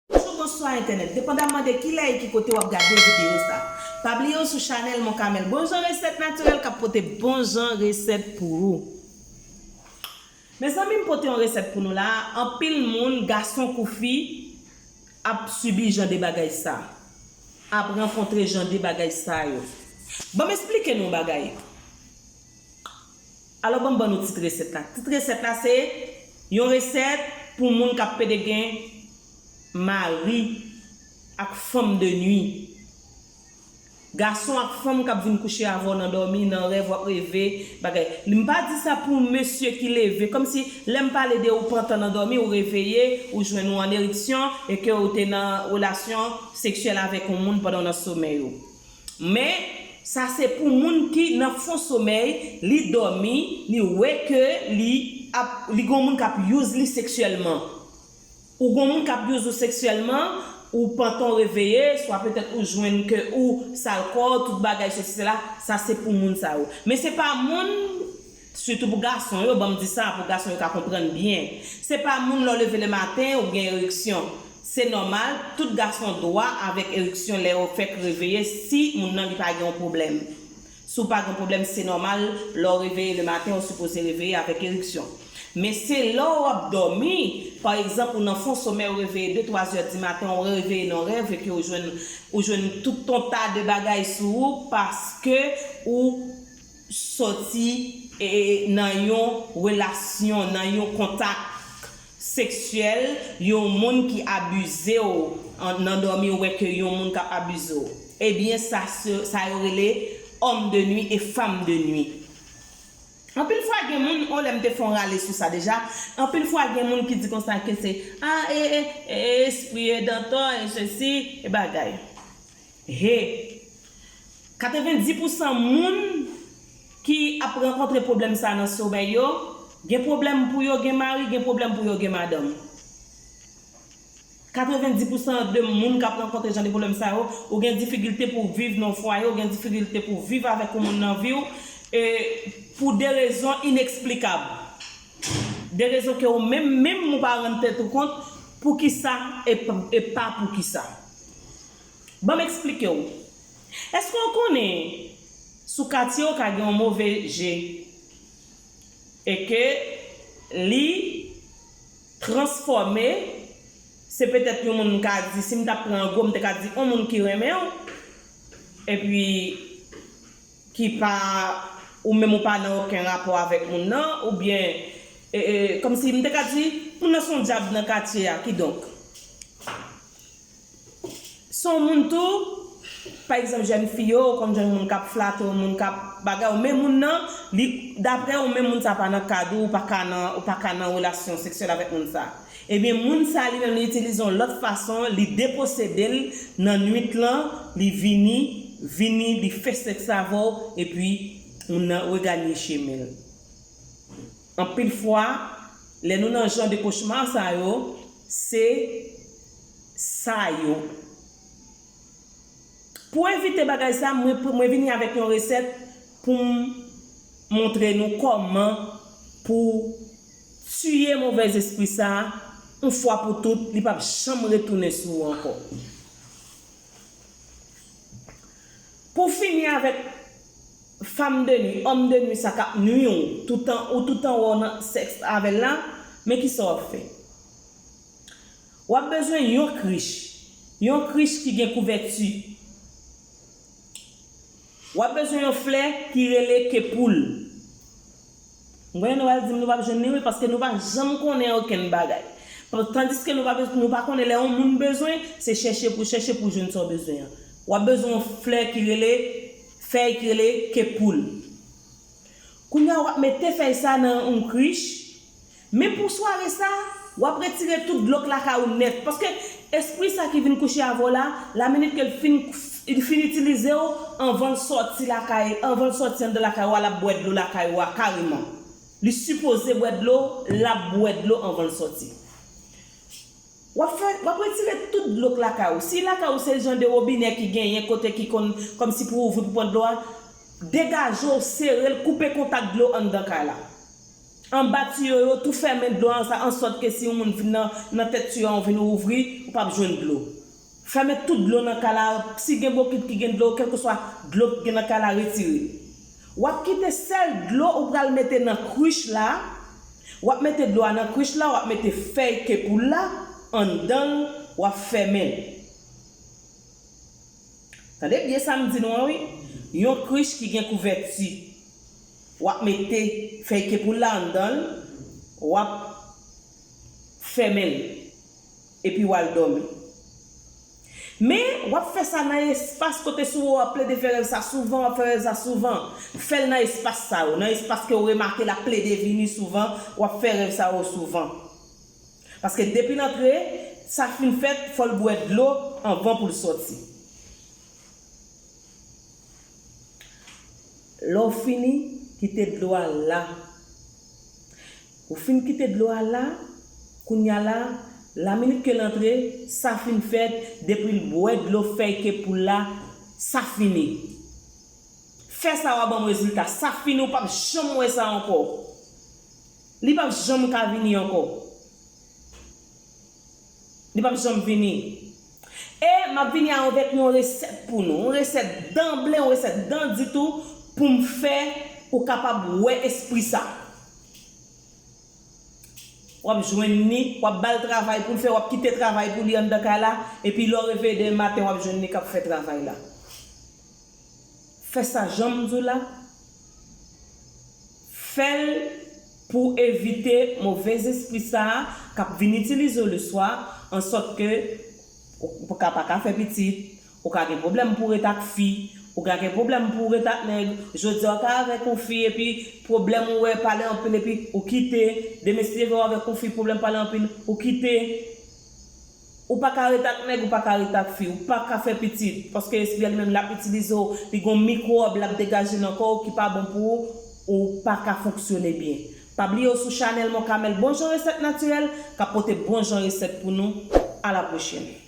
Bonjou bonswa entènèt depandamman de kilè e ki kote wap gade video sa pa bliye ou sou chanèl mon camel bon jan resèt natirèl kap pote bon jan resèt pou ou. Mezanmi m pote yon resèt pou nou la a anpil moun gason kou fi ap sibi jan de bagay sa ap rankontre jan de bagay sa yo banm esplike nou yon bagay alò banm ban nou tit resèt la tit resèt la se yon resèt pou moun kap pede gen mari ak fanm de nwi. Gason ak fanm kap vin kouche avè w nan dòmi, nan rèv wap reve, bagay. M pa di sa pou mesye ki leve, kòmsi lè m pale de ou pantan nan dòmi, ou reveye, ou jwenn ou an eriksyon e ke ou te nan relasyon seksyèl avèk yon moun pandan w nan somèy ou. Men, sa se pou moun ki nan fon somèy, li dòmi, li wè ke li ap, li gen yon moun kap use li seksyèlman. Ou gon moun kap use ou seksyèlman, ou pantan ou reveye, swa petèt ou jwenn ke ou sal kò, tout bagay sesi sela, sa se pou moun sa yo. Men se pa moun, sitou pou gason yo, banm di sa pou gason yo ka konprann byen. Se pa moun lè w leve le maten ou gen eriksyon. Se nòmal, tout gason dwa avèk eriksyon lè yo fèk reveye si moun nan li pa gen yon pwoblèm. Si w pa gen pwoblèm se nòmal lè w reveye le maten ou sipoze reveye avèk eriksyon. Men se lè w ap dòmi, pa egzanp ou nan fon somèy ou reveye 2 twa zè di maten ou reveye nan rèv epi ou jwenn ou jwenn tout ton ta de bagay sou ou paske ou sòti nan yon relasyon, nan yon kontak seksyèl yon moun ki abize w nan dòmi ou wè ke yon moun kap abize w ebyen sa sa yo rele homme de nuit et femme de nuit anpil fwa gen moun yon lè m te fè yon rale sou sa deja anpil fwa gen moun ki di konsa ke se a e espri e dantò e sesi e bagay Hee. 90 pou san moun ki ap rankontre pwoblèm sa nan somèy yo, gen pwoblèm pou yo gen mari, gen pwoblèm pou yo gen madanm. 90 pou san de moun kap rankontre jan de pwoblèm sa yo, ou gen difikilte pou viv nan yon fwaye, ou gen difikilte pou viv avèk yon moun nan viw, e pou de rezon ineksplikab. De rezon ke ou menm menm ou pa rann tèt ou kont poukisa e pa poukisa. Banm eksplikew. Eske ou konnen sou katye ou ka gen yon move je e ke li transfòme se petèt yon moun m ka di sim tap pran an gwo m te ka di on moun ki renmenw epi ki pa ou menm ou pa nan oken rapò avèk moun nan oubyen kòmsi m te ka di moun nan son dyab nan katye a kidonk Son moun tou, pa egzanp jèn fi yo ou konn jwenn moun kap flate w moun kap bagay w men moun nan li daprè ou menm moun sa pa nan kad ou ou paka nan ou paka nan relasyon seksyèl avèk moun sa ebyen moun sa li menm li itilize yon lòt fason li deposede l nan nwit lan li vini vini li fè sèks avè w epi moun nan reganye chemen l anpil fwa lè nou nan jan de kochma sa yo se. sa yo. Pou evite bagay sa, mwen vini avèk yon resèt pou m montre nou kòman pou tiye movèz espri sa yon fwa pou tout, li pap janm retounen sou ou ankò. Pou fini avèk fam de nwi, òm de nwi sa kap nwi ou toutan ou toutan wè w nan sèks avè l la, men kisa wap fè. W ap bezwen yon krich, yon krich ki gen kouvèti. W ap bezwen yon flè ki rele ke poul. M konnen nou pral di m nou p ap jwenn li wi paske nou pa janm konnen okenn bagay. Tandiske nou pa nou pa konnen lè yon moun bezwen, se chèche pou w chèche pou w jwenn sa w bezwen an. W ap bezwen yon flè ki rele, fèy ki rele ke poul. Kounye a w ap mete fèy sa nan yon krich, Men pou sware sa, w ap retire tout dlo k lakay ou nèt, paske espri sa ki vin kouche avè w la, laminit ke l fin li fin itilize w, anvan l sòti lakay, anvan l sòti anndan lakay ou a, l ap bwè dlo lakay ou a kareman. Li sipoze bwè dlo, l ap bwè dlo anvan l sòti. W ap fè, w ap retire tout dlo k lakay ou. Si lakay ou se jan de wobinè ki genyen kote ki konn kòmsi pou w ouvri pou pran dlo a, degaje w, sere l, koupe kontak dlo anndan kay la. Anba tiyo yo tou fèmen dlo an sa ansòt ke si yon moun vin nan nan tèt tiyo an ou vin ou ouvri ou pap jwenn dlo. Fèmen tout dlo nan kay la si gen bokit ki gen dlo kèlkeswa dlo ki gen nan kay la retire. Wap kite sèl dlo ou pral mete nan krich la, wap mete dlo a nan krich la wap mete fèy kepoul la anndanl wap fèmen l. Tande byen sa m di nou an wi, yon krich ki gen kouvèti. W ap mete fèy kepoul la anndan l, w ap fèmen l, epi w al dòmi. Men, w ap fè sa nan espas kote sou ou a plede fè rèv sa souvan, w ap fè rèv sa souvan. Fè l nan espas sa yo, nan espas ke ou remake l ap plede vini souvan, w ap fè rèv sa yo souvan. Paske depi l antre, sa fin fèt, fò l bwè dlo anvan pou l sòti. Lè w fini, kite dlo a la. Ou fin kite dlo a la, kounye a la, laminit ke l antre, sa fin fèt, depi l bwè dlo fèy ke pou l la, sa fini. Fè sa w a ban m rezilta. Sa fini, ou p ap janm wè sa ankò. Li pap janm ka vini ankò. Li pap janm vini. E map vini anvek yon resèt pou nou. Yon resèt danble, yon resèt dan ditou pou m fè ou kapab wè espri sa. Wap jwenn ni, wap bal travay poul fè, wap kite travay pou li anndan kay la, epi lè w reveye demen maten wap jwenn li kap fè travay la. Fè sa janm di w la. Fè l pou w evite move zespri sa a k ap vin itilize w leswa, ansòt ke ou ka pa ka fè pitit, ou ka gen pwoblèm pou w ret ak fi, ou ka gen pwoblèm pou w ret ak nèg, jodi a w ta avèk yon fi epi pwoblèm ou wè pale anpil epi ou kite, demen si te vè w avèk yon fi pwoblèm pale anpil, ou kite. Ou pa ka ret ak nèg ou pa ka ret ak fi, ou pa ka fè pitit, paske espri a li menm lap itilize w, li gon mikwòb lap degaje nan kò w ki pa bon pou ou, ou pa ka fonksyone byen. Pa bliye w sou chanèl Mon Camel bon jan resèt natirèl kap pote bon jan resèt pou nou, a la pwochèn.